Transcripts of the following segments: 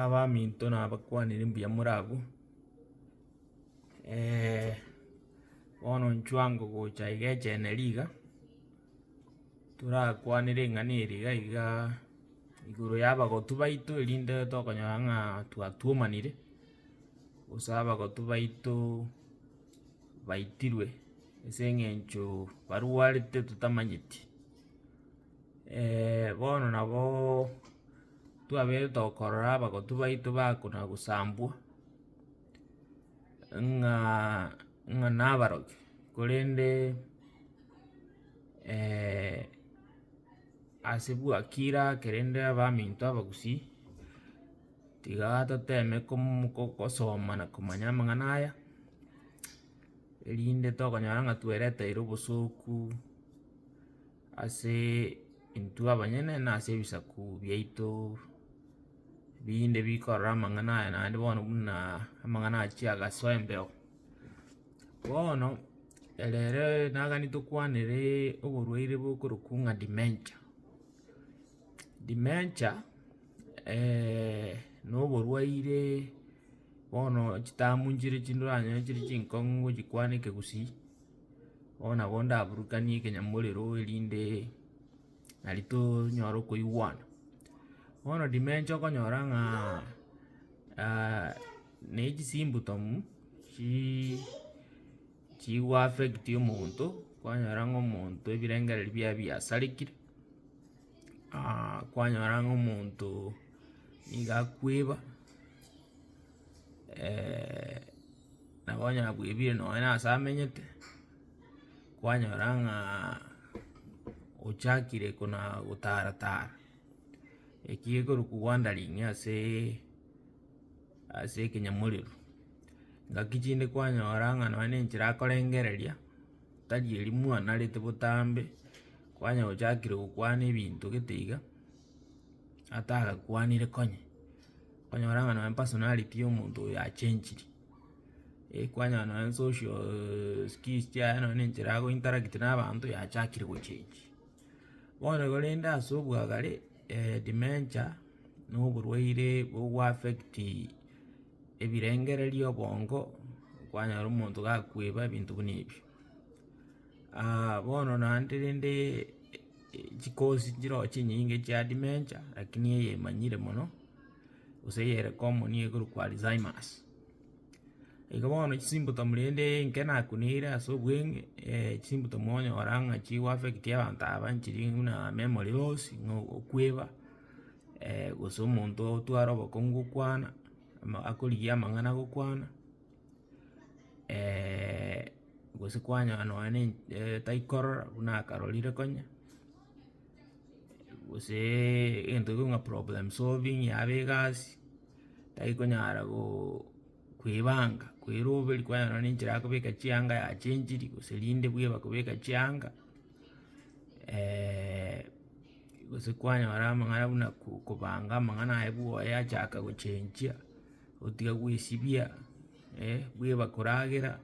Abaminto nabakwanire mbuya more abwo, bono nchwango gocha iga echeneri iga, torakwane ring'ana eri iga igaa igoro ya abagotu baito erinde tokonyora ng'a twatuomanire, gose abagotu baito baitirwe ase eng'encho barwarete totamanyeti. bono naboo twabete okorora abagotu baito bakona gosambwa, ng'aa ng'a nabarokia korende ase bwakira kerende abaminto abagusii, tiga toteme komu ko- kosoma na komanya amang'ana aya, erinde tokonyora ng'a twereteire obosoku. Ase intwe abanyene na ase ebisaku biaito binde bikorora amang'ana aya naende bono buna amang'ana achia agasoa embeo. Bono ere ere nagani tokwanere oborwaire bokorokwa ng'a dementia. Dementia na oborwaire bono chitambu nchire chinde oranyore chire chinkong'u gochikwana ekegusii. Bono nabo ndaburukanie ekenyamorero erinde nari tonyare okoigwana. Bono dimension okonyora ng'a ne chisimptom chii chigo affect omonto, kwanyora ng'a omonto ebirengereri biaye biasarekire, kwanyora ng'a omonto niga akweba. Nabo onye abwebire nonye na ase amenyete, kwanyora ng'a ochakire kona gotara tara, eki gekorwa ki wandering ase ase ekenyamorero, ngaki chinde kwanyora ng'a nonye na enchera akorengereria, tari eria mwanarete botambe, kwanyora ochakire gokwana ebinto gete iga. atagakwanire konya, okonyora ng'a nonye personality ya omonto oyo yachenchire, ekwanyora nonye socialll skills chiaye nonye na enchera ago interact na abanto yachakire gochengi. Bono korende ase obwagare dementia na oborwaire bogo affecti ebirengererio obongo, kwanyora omonto gakweba ebinto buna ebio bono naende rende. Chikosi chirochio chinyinge chia dementia, lakini eye emanyire mono, gose eye ere common nigo ekorokwa Alzheimers. Igo bono chisimpotomu rende inke nakunere ase obweng'e, chisimpotomu okonyora ng'a chigo affect abanto aba nchiri buna memory loss, ng'a okweba, gose omonto otware obokong'u gokwana, ama akorigia amang'ana gokwana. gose kwanyora nonye na ench taikorora buna akarorire konya, goseee egento ekio buna problem solving yaba egasi, tarikonyara gooo koebanga koeroberia kwanyora nonye na enchera ya kobeka chianga yachenchiri gose rinde bweba kobeka chianga gose kwanyora amang'ana buna ko- kobanga amang'ana aye bwoye achaka gochenchia. Gotiga gwesibia bweba koragera,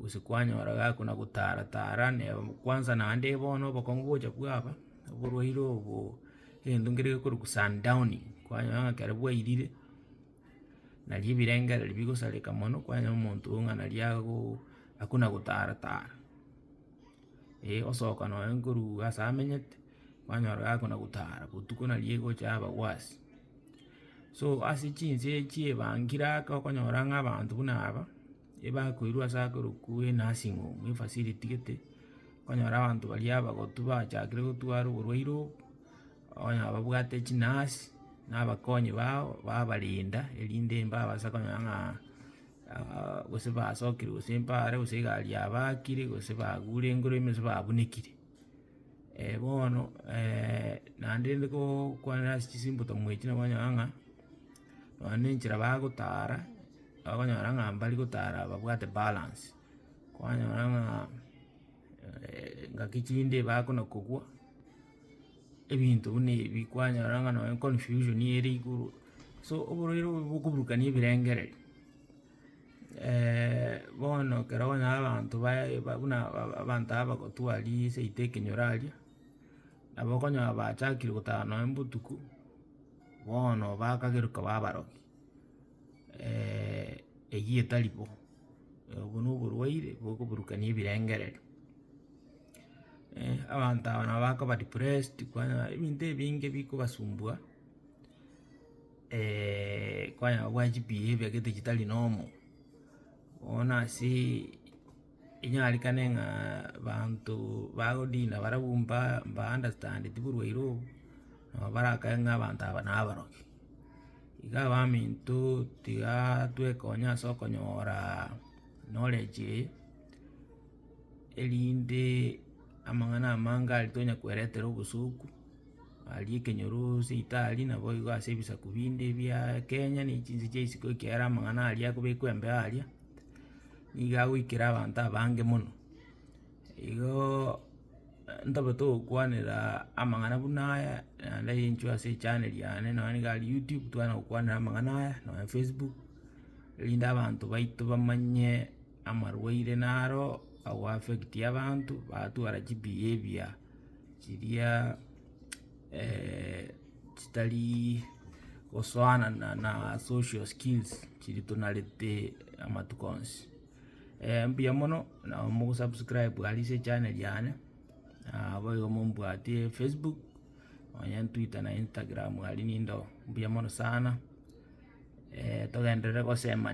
gose kwanyora gakona gotara tara neba kwansa naende bono obokong'u gocha bwaba, oborwaire obo egento nkere gekorokwa sun downing, kwanyora ng'a ekero bwairire, naria ebirengereri bigosareka mono, kwanyora omonto oo ng'a naria ago akona gotara tara, eh osoka nonya korwa ase amenyete, kwanyora gakona gotara botuko naria egocha yaba worse. So ase chinse echi ebangire aka okonyora ng'a abanto buna aba, ebakoirwa ase akorokwo enursing home, efacility gete, okonyora abanto baria abagotu bachakire gotwarwa oborwaire obo, onye babwate chinurse, na abakonyi bao, babarenda erinde mbabasa konya ng'a gose basokire gose mbare gose egari yabakire gose bagure engoraime gose babunekire. bono naende rende gokwana ase chisimpoto mwechi nabo okonyora ng'a, nonya na enchera bagotara, okonyora ng'a mbari gotara babwate balance, kwanyora ng'a engaki chinde bakona kogwa, ebinto buna ebi, kwanyora ng'a nonya confusion ere igoro, so oborwaire obo bokoburukani ebirengereri. bono ekero okonyora abanto baye ba buna aba- abanto aba bagotwa riiii seito ekenyoro aria, nabo okonyora bachakire gotara nonye botuko, bono bakageruka ba abaroki eywo etari bo, obwo na oborwaire bokoburukania ebirengererio. abanto aba nabo bakoba depressed, kwanyora ebinto ebinge bikobasumbua. kwayao gwa chipiya ebi egete chitari nomo, bono asee inyarekane ng'a abanto bagodina barabwo mba mba understandeti borwaire obo, nabo barakae ng'a abanto aba nabaroke. Iga abaminto tigaa twekonya ase okonyoraa knowledge eye. erinde amang'ana amange aria tonya kweretera obosoku, aria ekenyoro seitari nabo igo ase ebisaku binde bia kenya na chinse chia isiko ekiagera amang'ana aria akobekwa embeo aria, nigo agoikera abanto abange mono. Igoooo ntobe togokwanera amang'ana buna aya, naende inchuo ase echaneri yane nonye niga aria youtube tokana gokwanera amang'ana aya, nonye facebook, erinde abanto baito bamanye. amarwaire naro ago affectie abanto, batwara chibehaviour chiria chitarii gosoana na na social skills chiri tonarete amatuko onsi. mbuya mono na mogosubscribe aria ase echaneri yane, naboigo mombwati facebook, onye twitter na instagram aria nigo, mbuya mono sana, togenderere gosemani.